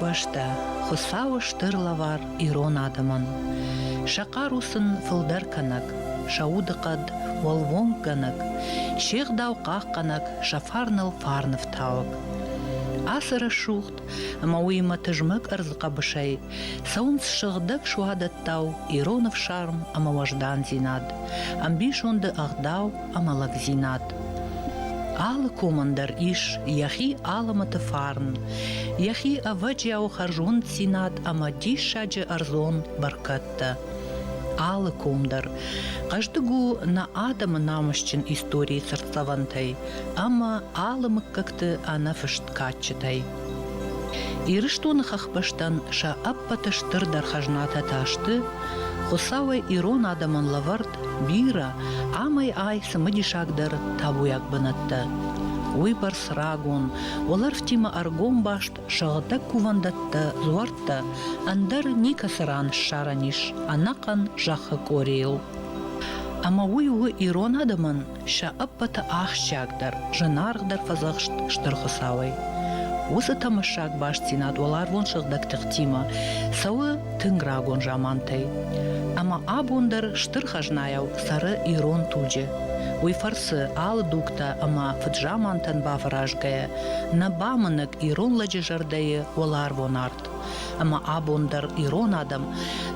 бӕстӕ Хуыцауы стыр лӕвар ирон адӕмӕн. Сӕ хъару сын фылдӕр кӕнӕг, сӕ удыхъӕд уӕлвонггӕнӕг, се гъдау хъахъхъӕнӕг, сӕ фарныл фарнӕфтауӕг. Ацы рӕсугъд ӕмӕ уыимӕ тызмӕг ӕрдз хъӕбысӕй цӕуынц сыгъдӕг суадӕттау ирон ӕфсарм ӕмӕ уӕздандзинад, ӕмбисонды ӕгъдау амалагдзинад. Алы комӕн дӕр ис йӕхи алӕмӕты фарн, йӕхи ӕвӕджиау хӕрзонддзинад ӕмӕ диссаджы ӕрдзон бӕркӕдтӕ. Алы ком дӕр хъӕздыг у нӕ адӕмы намысджын историйы цыртдзӕвӕнтӕй ӕмӕ алы мыггӕгты ӕнӕфыст кадджытӕй. Ирыстоны хӕхбӕстӕн сӕ ӕппӕты стырдӕр хӕзнатӕ та сты Хуыцауӕй ирон адӕмӕн лӕвӕрд бирӕ амӕй ай цымыдисагдӕр табуйаг бынӕттӕ. Уыйбӕрц рагон, уӕлӕрвтимӕ ӕргом баст сыгъдӕг кувӕндӕттӕ, дзуӕрттӕ ӕндӕр никӕцы ран ссарӕн ис ӕнӕхъӕн зӕххы къорийыл. Ӕмӕ уый у ирон адӕмӕн сӕ ӕппӕты ахсджиагдӕр, зынаргъдӕр фӕдзӕхст Стыр Хуыцауӕй. Уыцы тӕмӕссаг бастдзинад уӕларвон сыгъдӕг тыхтимӕ цӕуы тынг рагон замантӕй. Ӕмӕ абон дӕр стыр хӕзнайау цӕры ирон туджы. Уый фӕрцы алы дугтӕ ӕмӕ фыдзамантӕн бафӕразгӕйӕ, нӕ бамынӕг ирон лӕджы зӕрдӕйы уӕларвон арт. Ӕмӕ абон дӕр ирон адӕм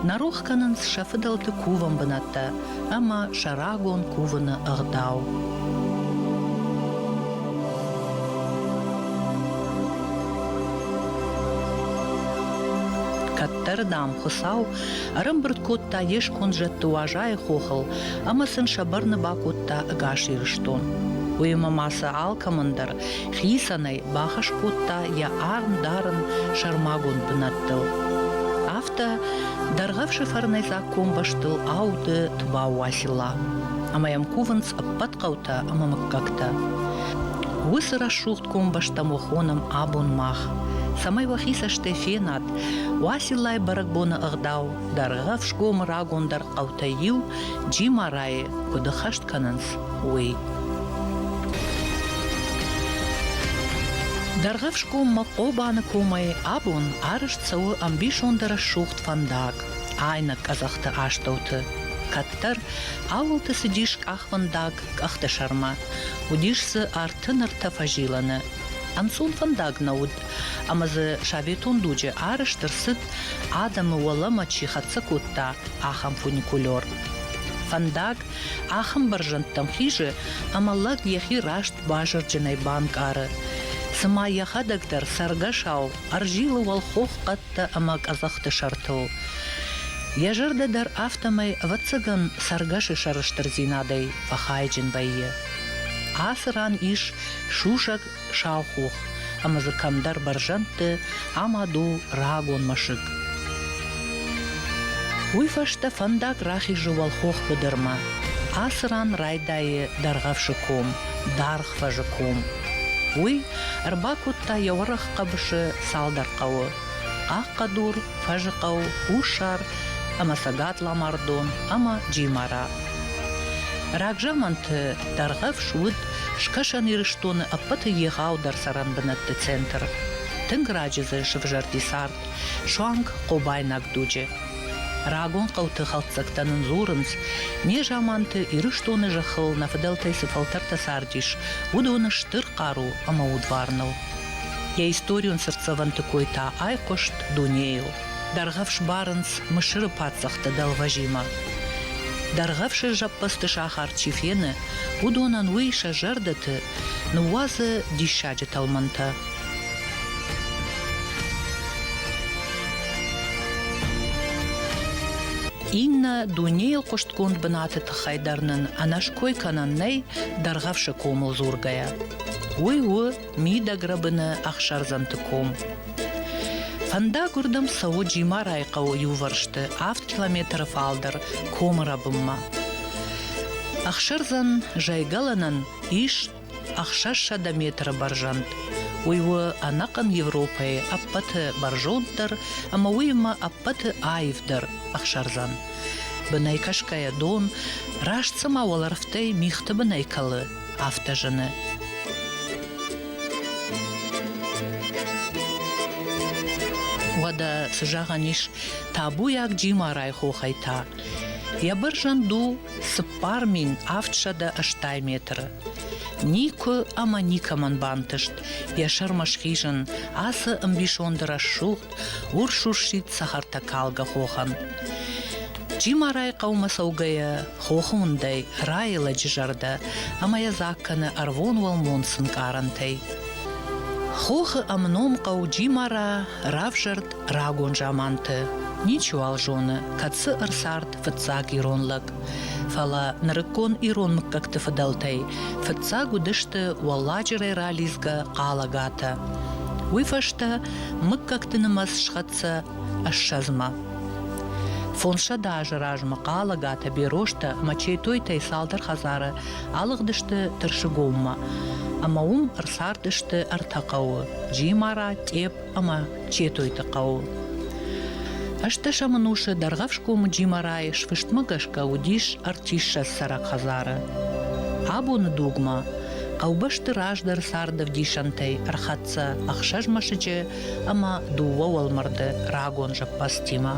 нӕ рох кӕнынц сӕ фыдӕлты кувӕн бынӕттӕ ӕмӕ сӕ рагон кувыны ӕгъдау. кӕддӕр, дам, Хуыцау ӕрӕмбырд кодта йе сконд зӕдты Уазайы хохыл ӕмӕ сын сӕ бӕрны бакодта ӕгас Ирыстон. Уыимӕ ма сӕ алкӕмӕн дӕр хицӕнӕй бахӕс кодта йӕ арм дарын сӕрмагонд бынӕттыл. Афтӕ дӕргъӕвсыфӕрнӕйдзаг комбӕстыл ауды Тубау Уасила ӕмӕ йӕм кувынц ӕппӕт хъӕутӕ ӕмӕ мыггӕгтӕ. Уыцы рӕсугъд комбӕстӕм уӕ хонӕм абон мах, цӕмӕй уӕхи цӕстӕй фенат, Уасилайы бӕрӕгбоны ӕгъдау Дӕргъӕвсгомы рагондӕр хъӕутӕй иу, Джимарайы, куыд ӕххӕст кӕнынц, уый. Дӕргъӕфсгоммӕ Хъобаны комӕй абон арызт цӕуы ӕмбисонды рӕсугъд фӕндаг айнӕг къӕдзӕхты астӕуты. Кӕддӕр ауылты цыдис къахвӕндаг къӕхты сӕрмӕ. Уыдис дзы арты нартӕ фӕзилӕны. Ӕнцон фӕндаг нӕ уыд, ӕмӕ дзы советон дуджы арӕзт ӕрцыд, адӕмы уӕлӕмӕ чи хӕццӕ кодта, ахӕм фуникулер. Фӕндаг Ахӕм бӕрзӕндтӕм хизы, ӕмӕ лӕг йӕхи раст базырджынӕй банкъары. Цыма йӕхӕдӕг дӕр цӕргӕсау ӕрзилы уӕлхох хъӕдтӕ ӕмӕ къӕдзӕхты сӕртыл. Йӕ зӕрдӕ дӕр афтӕмӕй, ӕвӕццӕгӕн, цӕргӕсы сӕрыстырдзинадӕй фӕхайджын вӕййы. Ацы ран ис сусӕг сау хох ӕмӕ дзы кӕмдӕр бӕрзӕндты амад у рагон мӕсыг. Уый фӕстӕ фӕндаг рахизы уӕлхох быдырмӕ. Ацы ран райдайы Дӕргъӕвсы ком, Даргъфӕзы ком. Уый ӕрбакодта йӕ уӕрӕх хъӕбысы цалдӕр хъӕуы: Хъахъхъӕдур, Фӕзыхъӕу, Хуссар ӕмӕ Цӕгат Ламардон ӕмӕ Джимара. Рагзаманты Дӕргъӕвс уыд Скӕсӕн Ирыстоны ӕппӕты егъау дӕр цӕрӕнбынӕтты центр. Тынг раджы дзы сывзӕрди цард суанг хъобайнаг дуджы. Рагон хъӕуты хӕлддзӕгтӕ нын дзурынц, незаманты Ирыстоны зӕххыл нӕ фыдӕлтӕй цы фӕлтӕртӕ цардис, уыдоны стыр хъару ӕмӕ удварныл. Йӕ историон цыртдзӕвӕнты кой та айхъуыст дунейыл. Дӕргъӕвс барынц Мысыры паддзӕхты дӕлвӕзимӕ. Дӕргъӕвсы зӕппӕдзты сахар чи фены, уыдонӕн уый сӕ зӕрдӕты ныууадзы диссаджы тӕлмӕнтӕ. Иннӕ дунейыл хъуыстгонд бынаты тыххӕй дӕр нын ӕнӕской кӕнӕн нӕй дӕргъӕвсы комыл дзургӕйӕ. Уый у мидӕгрӕбыны ӕхсӕрдзӕмты ком. Фӕндаг уырдӕм цӕуы Джимарайы хъӕуы иувӕрсты, авд километры фалдӕр комы рӕбынмӕ. Ӕхсӕрдзӕн зайгӕлӕнӕн ис ӕхсӕзсӕдӕ метры бӕрзӕнд. Уый у ӕнӕхъӕн Европӕйы ӕппӕты бӕрзонддӕр ӕмӕ уыимӕ ӕппӕты аивдӕр ӕхсӕрдзӕн. Бынӕй кӕсгӕйӕ дон раст цыма уӕлӕрвтӕй мигъты бынӕй кӕлы, афтӕ зыны. Уӕдӕ цы зӕгъӕн ис табуйаг Джимарайы хохӕй та? Йӕ бӕрзӕнд у цыппар мин авд сӕдӕ ӕстай метры. Никуы ӕмӕ никӕмӕн бантыст йӕ сӕрмӕ схизын ацы ӕмбисонды рӕсугъд Урсуссид цӕхӕртӕ калгӕ хохӕн. Джимарайы хъӕумӕ цӕугӕйӕ хохы уындӕй райы лӕджы зӕрдӕ ӕмӕ йӕ дзаг кӕны ӕрвон уӕлмон сынкъарӕнтӕй. Хохы ӕмном хъӕу Джимара равзӕрд рагон заманты. Ничиуал зоны, кӕд цы ӕрцард фыццаг ирон лӕг. Фӕлӕ нырыккон ирон мыггӕгты фыдӕлтӕй фыццаг уыдысты уӕлладжырӕй ралидзгӕ хъалагатӕ. Уый фӕстӕ мыггӕгты нымӕц схӕццӕ ӕссӕдзмӕ. Фондзсӕдӕ азы размӕ Хъалагатӕ, Берозтӕ ӕмӕ Четойтӕй цалдӕр хӕдзары алыгъдысты Тырсыгоммӕ, ӕмӕ уым ӕрцардысты ӕртӕ хъӕуы Джимара, Тъеп ӕмӕ Четойты хъӕуы. Ӕстдӕсӕм ӕнусы Дӕргъӕфсгомы Джимарайы сфыстмӕ гӕсгӕ уыдис ӕртиссӕдз цӕрӕг хӕдзары. Абоны дугмӕ Хъӕубӕсты раздӕр царды ӕвдисӕнтӕй ӕрхӕццӕ ӕхсӕз мӕсыджы ӕмӕ дыууӕ уӕлмӕрды рагон зӕппӕдзтимӕ.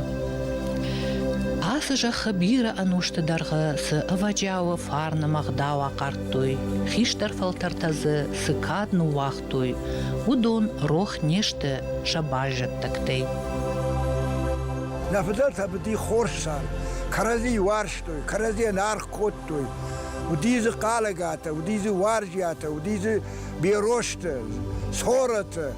Ацы зӕххы бирӕ ӕнусты дӕргъы цы ӕвӕджиауы фарны мӕгъдау ахъардтой, хистӕр фӕлтӕртӕ дзы цы кад ныууагътой, уыдон рох не сты сӕ баззӕддӕгтӕй. Нӕ фыдӕлтӕ быди хорз цард кӕрӕдзи уарзтой, кӕрӕдзийӕн аргъ кодтой, Уыди дзы Хъалӕгатӕ, уыди дзы Уарзиатӕ, уыди дзы Берозты, Цорӕты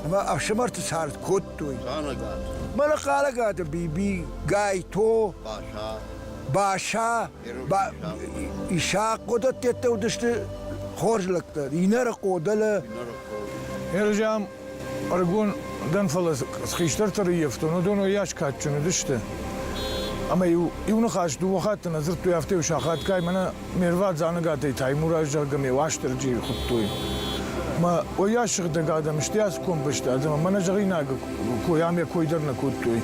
ӕмӕ ӕфсымӕрты цард кодтой. Хъалӕгат. Мӕнӕ Хъалӕгаты Биби, Гайто, Баша, Баша, Ба... Исахъ, уыдӕттӕ уыдысты хорз лӕгтӕ. Инӕрыхъо, дӕлӕ... Ержан Ӕрыгон дӕн, фӕлӕ хистӕртӕ рыййӕфтон, уыдон уыйас кадджын уыдысты. Ӕмӕ-иу иу ныхас дыууӕ хатты нӕ дзырдтой, афтӕ-иу сахатгай мӕнӕ ме рвад Дзанагатӕй Таймураз, зӕгъгӕ, ме Уастырджийы хуыдтой. Мӕ уыйас сыгъдӕг адӕм сты ацгон бӕстӕ, ӕмӕ мӕнӕ зӕгъинаг кой ӕмӕ кой дӕр нӕ кодтой.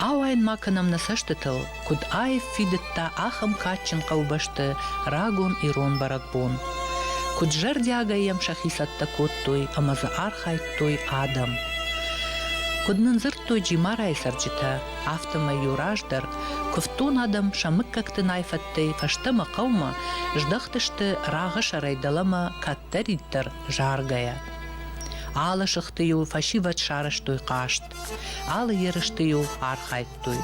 Ауайын ма кӕнӕм нӕ цӕстытыл, куыд аив фидыдта ахӕм кадджын хъӕубӕсты рагон ирон бӕрӕгбон, куыд зӕрдиагӕй йӕм сӕхи цӕттӕ кодтой ӕмӕ дзы архайдтой адӕм. Куыд нын дзырдтой Джимарайы цӕрджытӕ, афтӕмӕй иу раздӕр куывддон адӕм сӕ мыггӕгты найфӕттӕй фӕстӕмӕ хъӕумӕ здӕхтысты рагъысӕрӕй дӕлӕмӕ кӕддӕриддӕр заргӕйӕ. Алы сыхты-иу фӕсивӕд сарӕзтой хъазт, Алы ерысты-иу архайдтой.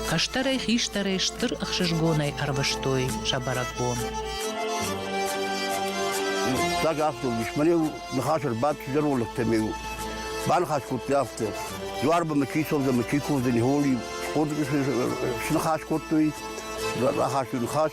Кӕстӕрӕй, хистӕрӕй стыр ӕхсызгонӕй ӕрвыстой сӕ бӕрӕгбон. Фыццаг афтӕ ис. Мӕн ныхас ӕрбадт зӕролӕгтӕ ме Баныхас кодта афтӕ. Дуарба мы чи совдзӕн, мы чи ковдзӕн, холи, сныхас кодтой, рахастой ныхас.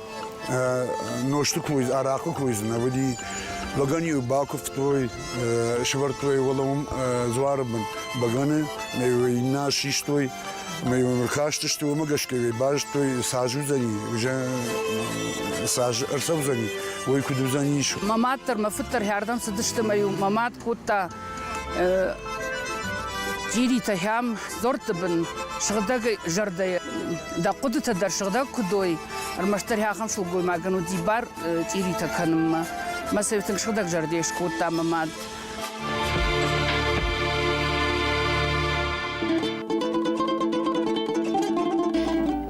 нозты кой, арахъы койдзы уыди. Бӕгӕны-иу бакуывтой, сывӕрдтой уӕлӕм дзуары бын бӕгӕны, ӕй иннӕ систой, ӕй уын ркастысты, уымӕ гӕсгӕ базыдтой, цас уыдзӕни, цас ӕрцӕудзӕни, уый куыд уыдзӕнис. Мӕ мад дӕр, мӕ фыд дӕр хӕрдӕн цыдысты мӕ-иу мӕ мад кодта Дзиритӕ хӕм дзорты бын сыгъдӕг зӕрдӕйы дӕ хъуыдытӕ дӕр сыгъдӕг куыд ой, ӕрмӕстдӕр ахӕм сылгоймагӕн уыди бар цъиритӕ кӕнынмӕ. Мӕ сӕ тынг сыгъдӕг зӕрдӕ скодта мӕ мад.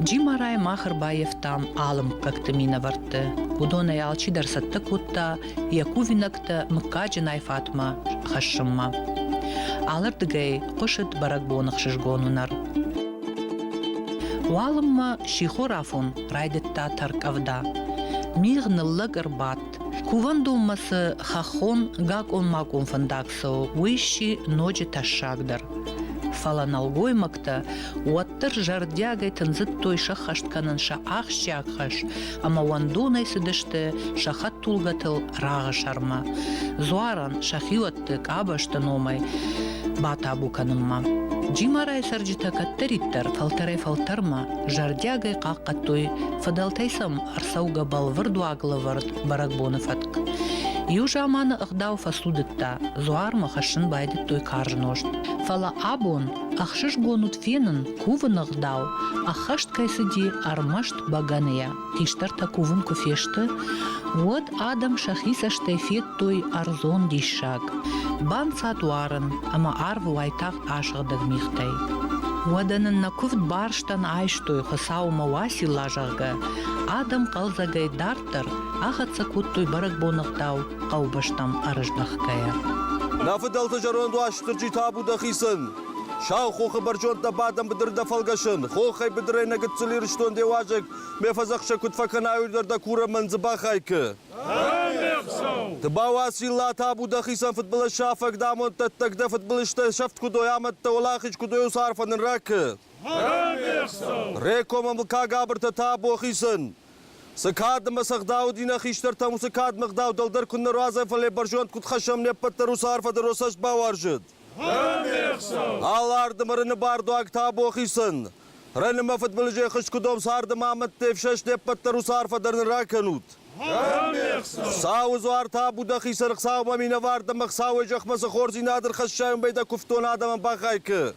Джимарайы мах ӕрбаевтам алы мыггӕгты минӕвӕртты. Уыдонӕй алчидӕр цӕттӕ кодта йӕ кувинӕгтӕ мыггаджынӕй Фатмӕ хӕссынмӕ. Алырдыгӕй хъуысыд бӕрӕгбоны хсызгон уынӕр. Уалынмӕ сихорафон райдыдта тӕрккъӕвда. Мигъ ныллӕг ӕрбадт. Кувӕндонмӕ цы хӕххон гакъон-макъон фӕндаг цӕуы, уый сси ноджы тӕссагдӕр. Фӕлӕ нӕлгоймӕгтӕ уӕддӕр зӕрдиагӕй тындзыдтой сӕххӕст кӕнын сӕ ахсджиаг хӕс, ӕмӕ уӕндонӕй цыдысты сӕ хӕдтулгӕтыл рагъы сӕрмӕ. Дзуарӕн сӕ хиуӕтты къабӕзты номӕй батабу кӕнынмӕ. Джимарайы цӕрджытӕ кӕддӕриддӕр фӕлтӕрӕй-фӕлтӕрмӕ зӕрдиагӕй хъахъхъӕдтой, фыдӕлтӕй сӕм ӕрцӕугӕ бӕлвырд уаглӕвӕрд бӕрӕгбоны фӕтк. Иу заманы ӕгъдау фӕцудыдта, дзуармӕ хӕссын байдыдтой карз нозт. Фӕлӕ абон, ӕхсызгон уыд фенын, Кувыны гъдау ӕххӕст кӕй цыди ӕрмӕст бӕгӕныйӕ, хистӕртӕ кувын куы фесты, уӕд адӕм сӕхи цӕстӕй федтой ӕрдзон диссаг, банцад уарын ӕмӕ арвы уайтагъд асыгъдӕг мигътӕй. Уӕдӕ нын нӕ куывд барстӕн айстой, Хуыцаумӕ Уасила, зӕгъгӕ, адӕм хъӕлдзӕгӕй дарддӕр ахӕццӕ кодтой бӕрӕгбоныгъдау хъӕубӕстӕм ӕрыздӕхгӕйӕ. Нӕ фыдӕлты зӕронд Уастырджи табу дӕхицӕн! Сау хохы бӕрзондтӕ бадӕн быдырдӕ фӕлгӕсын. Хохӕй быдырӕй нӕ гыццыл Ирыстон де уазӕг, ме фӕдзӕхсӕг куыд фӕкӕнай уый дӕ курӕмӕн дзы бахайкы. Тыбауа цилла табу дӕхицӕн фыдбылыз сафӕг дӕ амонддӕттӕг дӕ фыдбылызтӕ сӕфт куыд ой амӕттӕ уӕлахиз куыд ой уыцы арфӕ нын ракы. Ре комӕн лыггаг абыртӕ табу хицӕн. Цы кад ӕмӕ сӕгъдау уыди нӕ хистӕртӕм, уыцы кадмӕ ӕгъдау дӕлдӕр куыннӕ руадзӕм, фӕлӕ бӕрзонд куыд хӕссӕм не ппӕт дӕр уыцы арфӕ дӕр уӕ цӕст бауарзыд. Аларды мырыны бардуаг табо хицӕн. Раны мӕ фыдбылызӕй хыскуыдом царды ма амӕтты ӕфсӕст де ппӕт дӕр уыцы арфӕ дӕр нын ракӕнут. Сауы дзуар табу дӕ хицӕн Хуыцаумӕ минӕвар ӕмӕ Хуыцауӕй зӕхмӕ цы хорздзинадыл хӕссай, уымӕй дӕ куывддон адӕмӕн бахайкы.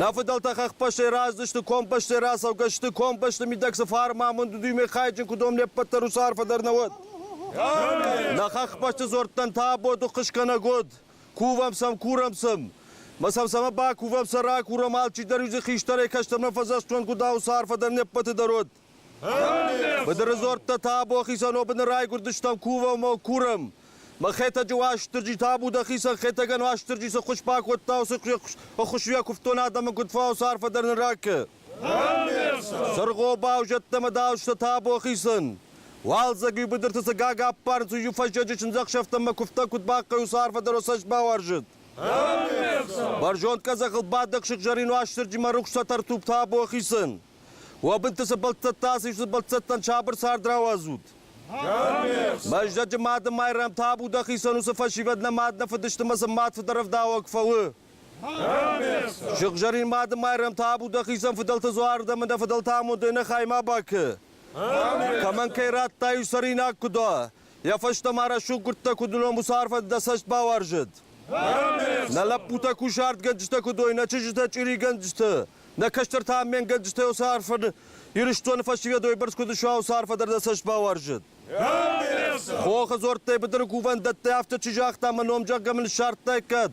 Нӕ фыдӕлтӕ хӕхбӕстӕй раздзысты, комбӕстӕй рацӕугӕ сты, комбӕсты мидӕг цы фарн ма амонд уыд, уымӕй хайджын куы дом не ппӕт дӕр уыцы арфӕ дӕр нӕ уӕд. Нӕ хӕхбӕсты дзуӕрттӕн та аботы хъысгӕнӕг уыд. Кувӕм сӕм, курӕм сӕм. Ма сӕм сӕмӕ бакувӕм, сӕ ракурӕм, алчидӕр иу дзы хистӕрӕй кӕстӕрмӕ фӕдзӕхсдзон, куыд ӕуыцы арфӕ дӕр не ппӕты дӕр уыд. Быдыры дзуӕрттӕ та абон хицӕн обыны райгуырдыстӕм, кувӕм ӕмӕ курӕм. Мӕ Хетӕджы Уастырджи та Буда хицӕн Хетӕгӕн Уастырджи цы хуыз бакодта, уыцы хуыз уӕ куывдтон адӕмы, куыд фӕуа уыцы арфӕ дӕр нын ракӕ. Сыргъобау зӕдтӕмӕ дауысты табо хицын. Уалдзӕг иу быдырты цы гагаппарын цы иу фӕсчъӕджы чындзӕхсӕвтӕмӕ куывдтӕ куыд бахъхъӕй уыцы арфӕ дӕр цӕст бауарзыд. Бӕрзонд къӕдзӕхыл бадӕг сыгъзӕрин Уастырджимӕ рухс тӕтӕртуг табо хицын. Уӕ бынты цы бӕлццӕттӕ ацыд, уыцы бӕлццӕттӕн сабыр цард рауадзут. Мӕздӕджы Мады Майрӕм табу дӕ хицӕн уыцы фӕсивӕд нӕ мад нӕ фыдысты мӕ сын мад фыдӕрӕвдауӕг фӕуы. Сыгъзӕрин Мадымайрӕм табу дӕхицӕн фыдӕлты дзуары ӕмӕ дӕ фыдӕлты амондӕй нӕ хаймӕ бакӕ. Кӕмӕн кӕй радтай у цӕринаг куы дӕ, йӕ фӕстӕ ма рӕсугъдгуырдтӕ куыд уыном уыцы арфӕты дӕ цӕст бауарзӕд. Нӕ лӕппутӕ кусартгӕнджытӕ куыд уой, нӕ чызджытӕ чъиригӕнджыты, нӕ кӕстӕртӕ амменгӕнджытӕ уыцы арфӕ Ирыстоны фӕсивӕдой бӕрц куыд суа, уыцы арфӕ дӕр дӕ цӕст бауарзӕд. Хохы дзуӕрттӕй быдыры кувӕндӕттӕй афтӕ чи загъта, мӕ ном зӕгъгӕ мын ссардтаиккат,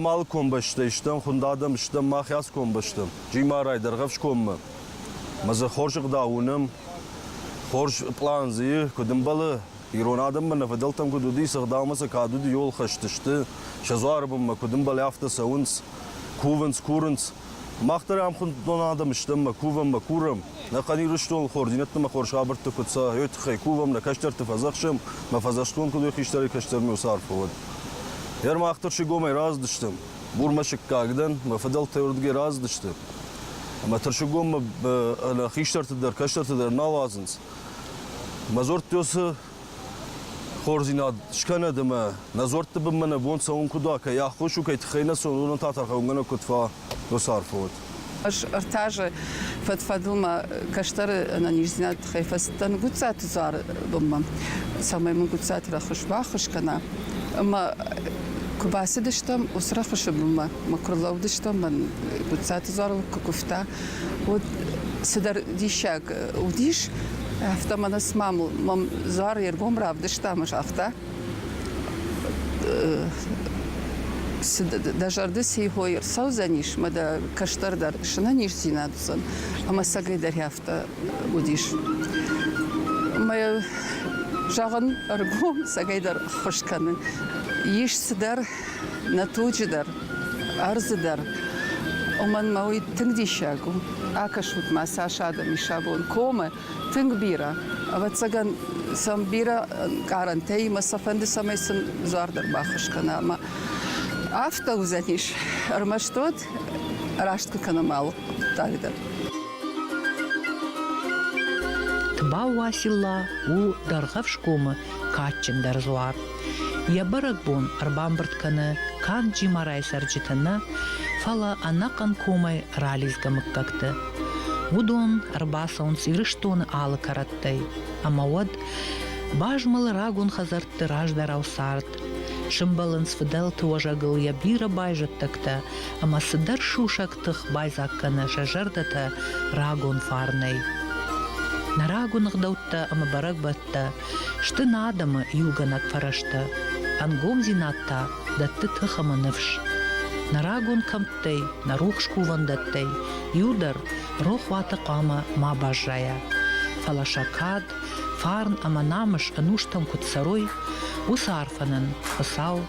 Ам алы комбӕстӕй стӕм, хуынд адӕм стӕм, мах ацы комбӕ стӕм. Джимарай, Дӕргъӕфскоммӕ. Мӕ дзы хорз ӕгъдау уынӕм, хорз план дзы и, куыд ӕмбӕлы, ирон адӕммӕ нӕ фыдӕлтӕм куыд уыди, цы ӕгъдаумӕ сӕ кад уыди, йол хӕсты сты, сӕ дзуары бынмӕ куыд ӕмбӕлы, афтӕ цӕуынц, кувынц, курынц. Мах дӕр ӕмхуындон адӕм стӕм мӕ кувӕм, мӕ курӕм, нӕ Хъӕн Ирыстон хординӕтты мӕ хорз хабӕртты куыд цӕ, уый тыххӕй кувӕм, нӕ кӕстӕрты фӕдзӕхсӕм, мӕ фӕдзӕхстгонд куыд уой хистӕрӕй кӕстӕрмӕ уыцы арф уӕд. Гъер мах дӕр сыгомӕй раздысты, Бурмӕсыггаг дӕн, мӕ фыдӕлтӕ уырдыгӕй раздысты. Ӕмӕ тырсыгоммӕ хистӕрты дӕр, кӕстӕрты дӕр нал уадзынц. Мӕ дзурд уыцы хорздзинад скӕнӕд ӕмӕ нӕ дзуӕртты бынмӕ нӕ бон цӕуын куыд уа, кӕй аххос у, кӕй тыххӕй нӕ цӕуын, уымӕн та тӕрхӕуынгӕнӕг куыд фӕ уыцы арфӕ уыд. Ӕз ӕртӕ азы фӕд-фӕдыл мӕ кӕстӕры ӕнӕниздзинады тыххӕй фӕцыдтӕн Гуццаты Дзуары бынмӕ, цӕмӕй мын Гуццаты рӕхыс баххуыс кӕна. Ӕмӕ куы бацыдыстӕм уыцы рӕхысы бынмӕ, мӕ куы рлӕууыдыстӕм, мӕн Гуццаты Дзуар лыг куы куывта, Вот цыдӕр диссаг уыдис, афтӕ мӕнӕ цыма мӕм Зар йе ргом равдыста ӕмӕ загъта, дӕ зӕрды ци хой ӕрцӕудзӕнис, ӕмӕ дӕ кӕстӕрдӕр снӕниздзинад уыдзӕн. Ӕмӕ сӕгӕй дӕр афтӕ уыдис. Мӕ зӕгъын, ӕргом сӕгӕй дӕр ххуыс кӕны. Ис цыдӕр нӕ туджы дӕр, ӕрдзы дӕр. Уымӕн мӕ уый тынг диссаг у. Акӕсут-ма, цас адӕм ис абон комы, тынг бирӕ. Ӕвӕццӕгӕн сӕм бирӕ ӕнкъарӕнтӕ и, мӕ сӕ фӕнды, цӕмӕй сын дзуар дӕр баххуыс кӕна. Ӕмӕ афтӕ уыдзӕнис ӕрмӕст уӕд, раст куы кӕнӕм алы хъуыддаг дӕр. Тбау-Уацилла у Дӕргъӕвсгомы кадджындӕр дзуар. Йӕ бӕрӕгбон ӕрбамбырд кӕны канд Джимарайы цӕрджыты нӕ, фӕлӕ ӕнӕхъӕн комӕй ралидзгӕ мыггӕгты. Уыдон ӕрбацӕуынц Ирыстоны алы кӕрӕттӕй, ӕмӕ уӕд базмӕлы рагон хӕдзӕртты раздӕрау цард, сымбӕлынц фыдӕлты уӕзӕгыл йӕ бирӕ байзӕддӕгтӕ ӕмӕ цыдӕр сусӕг тых байдзаг кӕны сӕ зӕрдӕтӕ рагон фарнӕй. Нӕ рагон ӕгъдӕуттӕ ӕмӕ бӕрӕгбӕт фӕлгӕтттӕ сты нӕ адӕмы иугӕнӕг фӕрӕзтӕ, ӕнгомдзинад та дӕтты тых ӕмӕ ныфс. Нӕ рагон кӕмттӕй, нӕ рухс кувӕндӕттӕй иу дӕр рохуаты хъуамӕ ма баззайа. Фӕлӕ сӕ кад, фарн ӕмӕ намыс ӕнустӕм куыд цӕрой, уыцы арфӕнӕн Хуыцау